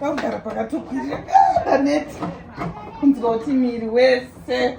vakugara pakatokwirira ndaneti kunzwa kuti miri wese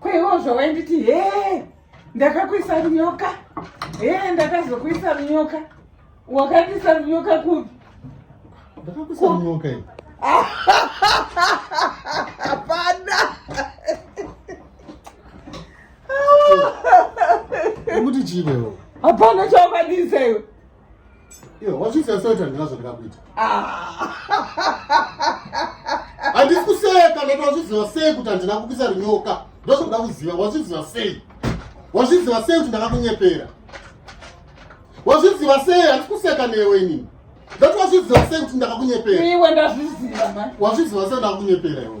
Kweivozvo wainditi hee ndakakuisa runyoka hee ndakazokuisa runyoka wakandiisa runyoka kupi ndakakuisa runyoka i hapana kuti chivewo hapana chawakandiisa iwe Iyo, wazviziva soita ndina zvandikakuita. Ah. Handisi kuseka ndati wazviziva sei kuti handina kukisa rinyoka. Ndozvoda kuziva wazviziva sei. Wazviziva sei kuti ndakakunyepera. Wazviziva sei handisi kuseka newe inini. Ndati wazviziva sei kuti ndakakunyepera. Iwe ndazviziva ma. Wazviziva sei ndakakunyepera iwe.